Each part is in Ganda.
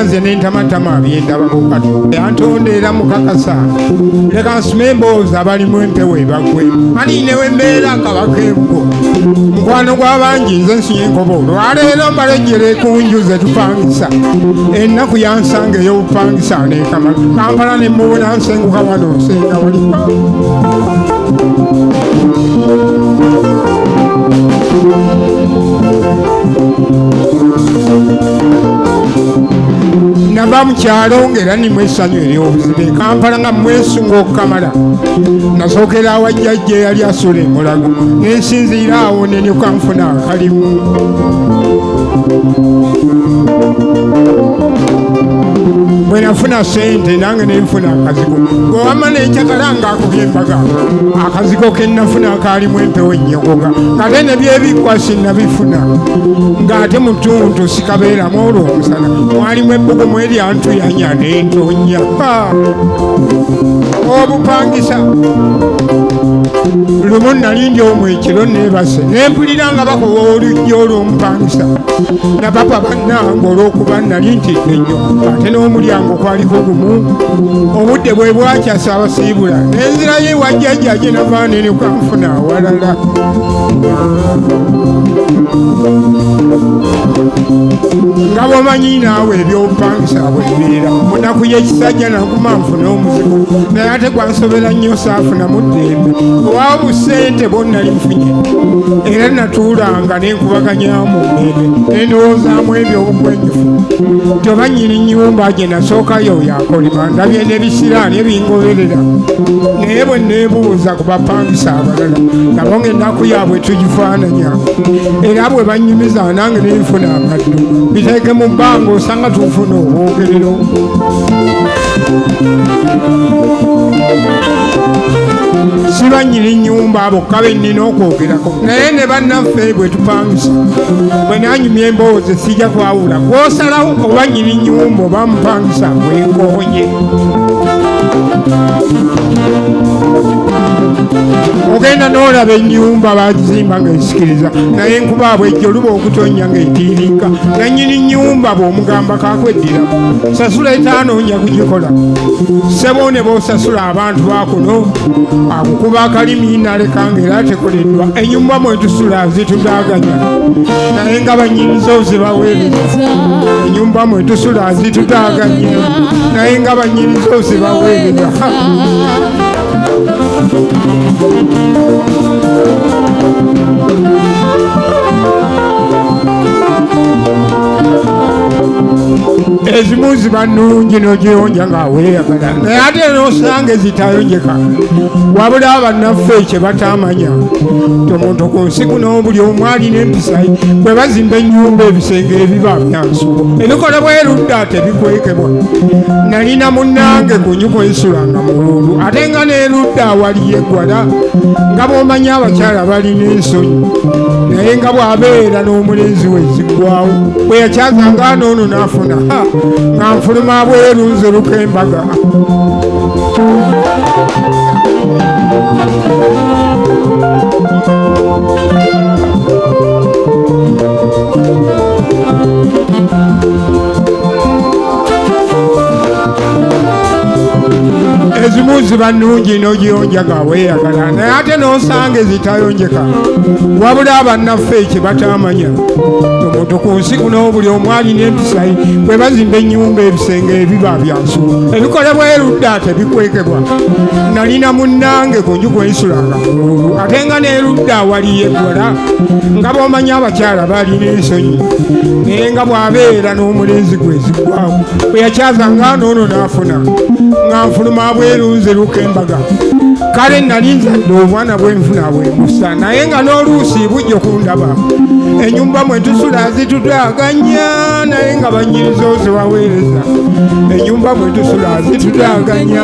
nze nentamatama byendabako kati yantonda era mukakasa leka nsima emboozi abalimu empewo ebagwe ani newembeera kabaka ebwo mukwano gw'abangi nze nsiye enkobo olwaleero mbalejjere ku nju ze tupangisa ennaku yansanga ey'obupangisa nekama kampala ne mubuna nsenguka wano nsenga wali Thank you. nava mu kyalo ng'era nimu essanyu ery'obuziba e kampala nga mwesunga okukamala nasookera awa jjajja eyali asula emulago nensinziira awo nenyuka nfuna akalimu bwe nafuna sente nange nenfuna akazigo gwewama nenjagala nga akubye embaga akazigo kenafuna kaalimu empewo ennyogoga ngate nebyebikwasi nabifuna ng'ate mutuntu kabeeramu olwo omusana mwalimu ebbugumu eryantuyanya nentonya obupangisa lumu nali ndi omu ekiro nebase nempulira nga bakowa olujja olwomupangisa napapa bannange olwokuba nali ntidde nnyo ate n'omulyango kwaliko gumu obudde bwe bwakyasa abasiibula nenzirayo ewajjajjaje navaanene kanfuna awalala nga bwomanyi naawe ebyobupangisa bwebibeera munaku yekisajja naguma nfuna omuzigo naye ate gwansobera nnyo saafuna muddembe owa busente bwonnali nfunye era natuulanga nenkubaganyamu ndembe nendowoozaamu ebyobukwenjufu nti oba nyini nyumba gye nasookayo yakolima ndabye nebisiraani ebingoberera naye bwe nebuuza ku bapangisa abalala nabo ngaennaku yaabwe tugifaananya era bwe bannyumiza nange nenfuna amaddu biteeke mu bbanga osanga tufuna obwogerero siba nyini nyumba abo kabe nnina okwogerako naye ne bannaffe bwe tupangisa bwe nanyumya emboozi sijja kwawula kwosalawo oba nyini nyumba oba mupangisa bwenkoy ogenda n'olaba ennyumba bazimba ng'esikiriza naye nkuba abwe ejjo luba okutonnya ng'etiiriika nannyini nnyumba bw'omugamba kakweddira sasula etaano nja kugikola ssebo ne bosasula abantu bakuno akukuba akalimi naleka ng'era tekoleddwa ennyumba mwetusula zitudaganya naye nga bannyinizo zibaweereza enyumba mwe tusula zitutaganya naye nga banyini zosi baweerera ezimu ziba nungi nogiyonja nga weyagala naye ate nosanga ezitayonjeka wabula bannaffe kyebatamanya tomuntu ku nsi kuno buli omwali balina empisa bwe bazimba ennyumba ebisenge ebiba byansulo ebikola bwerudda tebikwekebwa nalina munnange ku nyuko ensulanga mulundu ate nga nerudda awali yeggwala nga bwomanya abakyala balina ensonyi naye nga bw'abeera n'omulenzi we ziggwawo bwe yakyazanga anoono n'afuna nga nfuluma bweru nziruka embaga ezimu ziba nnungi n'ogiyonjaga weeyagala naye ate n'osanga ezitayonjeka wabula abannaffe kye bataamanya omuntu ku nsi kuno buli omu alina empisayi bwe bazimba ennyumba ebisenge ebiba byansu ebikolebwa erudda tebikwekebwa nalina munnange ku njuku ensulanga ate nga n'erudda awali yekola nga bw'omanyi abakyala baali n'ensonyi naye nga bw'abeera n'omulenzi gwezigwawo bwe yakyaza nga noono n'afuna nga nfuluma bwerunze luka embaga kale nali nzadde obwana bwenfuna bwemusa naye nga n'oluusi bujja okundaba enyumba mwe tusula zitutaganya naye nga banyiriza ozibaweereza enyumba mwe tusula zitutaganya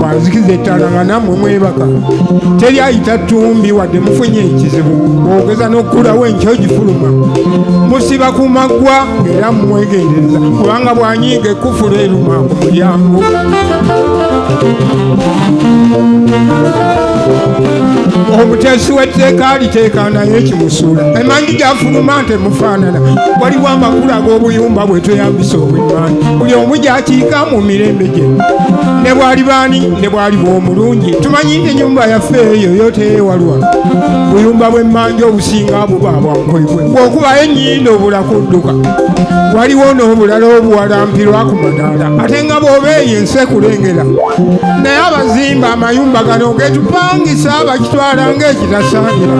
bwanzikiza ettaala nga nammwe mwebaka teri ayita ttumbi wadde mufunye ekizibu ogeza n'okukulawo enkyo gifuluma musiba ku maggwa era mumwegendereza kubanga bwanyiiga ekufula eruma ku mulyango omuteesi w'etteeka aliteeka naye ekimusuula emanyi gyafuluma nti emufaanana waliwo amakulu ag'obuyumba bwe tweyambisa obwemmanyi buli omu gyakiika mu mirembe gye ne bwali baani ne bwali bwomulungi tumanyi enyumba yaffe eyo yoteyewalwa buyumba bwemmanja obusinga buba bwankoibwe bwokubayo enyindo obula kudduka waliwo n'obulala obuwalampirwa ku madaala ate nga bwoba eyo ensi ekulengera naye abazimba amayumba gano getupangisa bakitwala ngaekitasaanira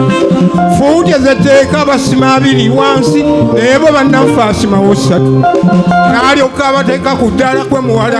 fuuti ezetteeka basima abiri wansi naye bo bannanfaasimawo ssatu naalyoka abateeka ku ddala kwe muwala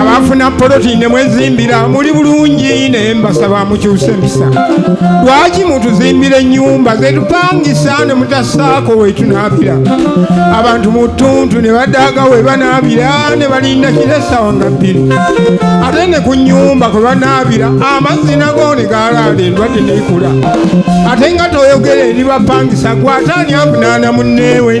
abafuna poloti ne mwezimbira muli bulungi naye mbasaba mukyuse empisa lwaki mutuzimbira ennyumba zetupangisa ne mutasaako wetunaabira abantu mu ttuntu ne badaaga we banaabira ne balinda kira essaawa nga bbiri ate ne ku nnyumba kwe banaabira amazzi nago ne galaala endwadde neikula ate nga toyogera eri bapangisa gwataani avunaana munneewe